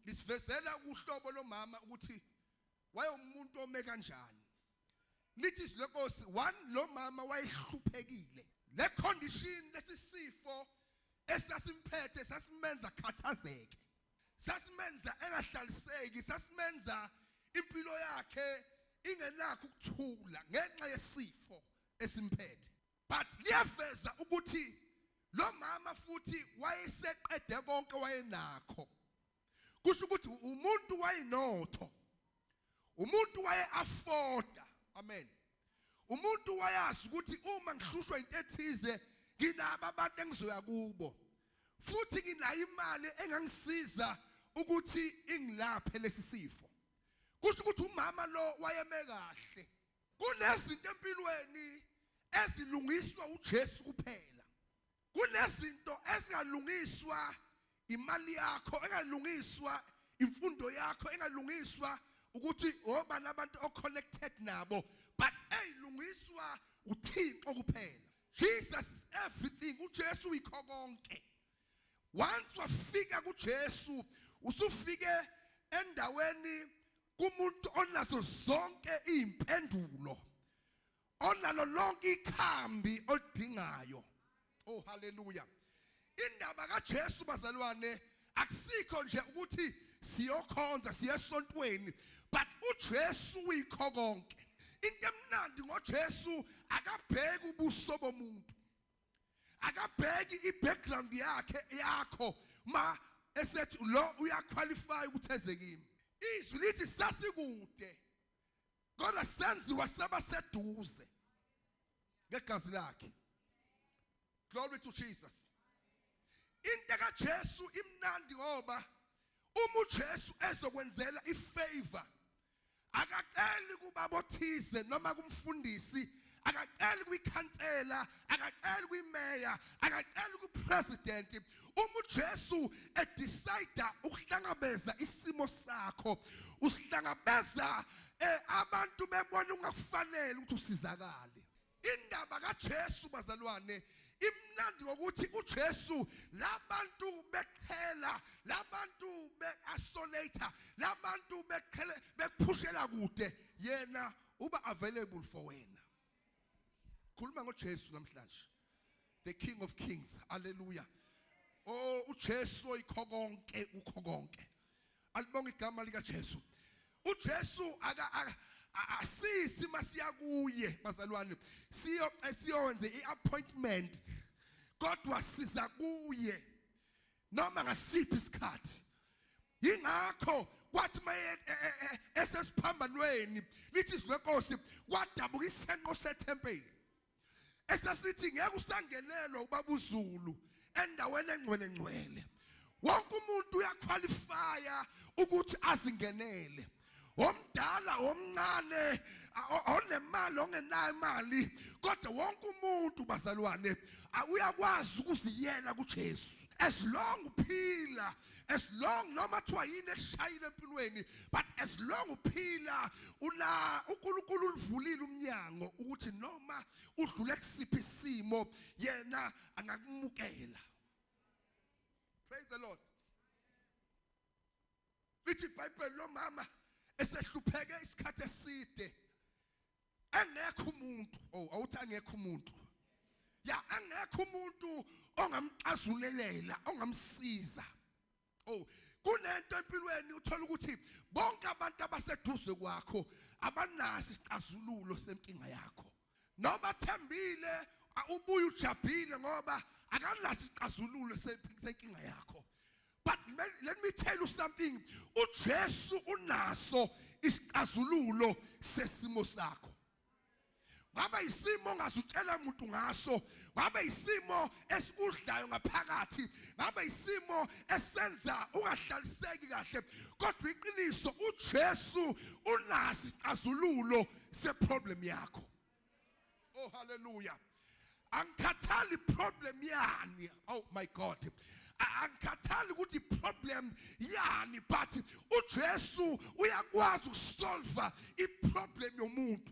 Lisivezela uhlobo lomama ukuthi wayewumuntu ome kanjani. Lithi izwi lenkosi one lo mama wayehluphekile. Le condition lesisifo esasimphethe sasimenza khathazeke. Sasimenza engahlaliseki, sasimenza impilo yakhe ingenakho ukuthula ngenxa yesifo esimphethe. but liyaveza ukuthi lo mama futhi wayeseqede konke wayenakho kusho ukuthi umuntu wayenotho umuntu waye afforda amen umuntu wayazi ukuthi uma ngihlushwa into ethize nginabo abantu engizoya kubo futhi nginayo imali engangisiza ukuthi ingilaphe lesi sifo kusho ukuthi umama lo wayeme kahle Kunezinto empilweni ezilungiswa uJesu kuphela. Kunezinto ezingalungiswa imali yakho, engalungiswa imfundo yakho, engalungiswa ukuthi obani abantu oconnected nabo, but eyilungiswa uThixo kuphela. Jesus is everything, uJesu uyikho konke. Once wafika kuJesu, usufike endaweni kumuntu onazo zonke izimpendulo onalo lonke ikhambi olidingayo oh haleluya indaba kaJesu bazalwane akusikho nje ukuthi siyokhonza siyesontweni but uJesu uyikho konke into emnandi ngoJesu akabheki ubuso bomuntu akabheki i-background yakhe yakho ma esethi lo uyaqualify ukuthi eze kimi izwi lithi sasikude kodwa senziwa saba seduze ngegazi lakhe glory to jesus into kaJesu imnandi ngoba uma uJesu ezokwenzela ifavor akaceli kubabothize noma kumfundisi akaceli kwikhansela akaceli kwimeya akaceli kupresident uma uJesu edecide ukuhlangabeza isimo sakho usihlangabeza eh, abantu bebona ungakufanele ukuthi usizakale Indaba kaJesu bazalwane imnandi ngokuthi uJesu labantu beqhela labantu beasolator labantu beqhele bekuphushela kude yena uba available for wena khuluma ngoJesu namhlanje the king of kings haleluya oh uJesu oyikho konke ukho konke alibonga igama likaJesu uJesu aka asisi masiya kuye bazalwane siyo siyonze iappointment kodwa siza kuye noma ngasiphi isikhathi ingakho kwathi maye e, e, e, esesiphambanweni lithi izwi lenkosi kwadabuka isenqo sethempeli esasithi ngeke usangenelwa ubaba uZulu endaweni engcwele ngcwele wonke umuntu uyaqualifya ukuthi azingenele omdala omncane onemali ongenayo imali kodwa wonke umuntu bazalwane uyakwazi ukuziyela kuJesu as long uphila as long noma kuthiwa yini ekushayile empilweni but as long uphila ula uNkulunkulu ulivulile umnyango ukuthi noma udlule kusiphi isimo yena angakumukela praise the lord lithi ibhayibheli lomama esehlupheke isikhathi eside angekho umuntu oh awuthi angekho umuntu ya angekho umuntu ongamxazululela ongamsiza oh kunento empilweni uthola ukuthi bonke abantu abaseduze kwakho abanasi isixazululo senkinga yakho noma thembile ubuye ujabhile ngoba akanasi isixazululo senkinga yakho But let me tell you something. UJesu unaso isixazululo sesimo sakho. Ngabe isimo ongazutshela umuntu ngaso, ngabe isimo esikudlayo ngaphakathi, ngabe isimo esenza ungahlaliseki kahle. Kodwa iqiniso uJesu unasi isixazululo seproblem yakho. Oh hallelujah. Angikhathali problem yani. Oh my God. Angikhathali ukuthi problem yani but uJesu uyakwazi ukusolve iproblem yomuntu.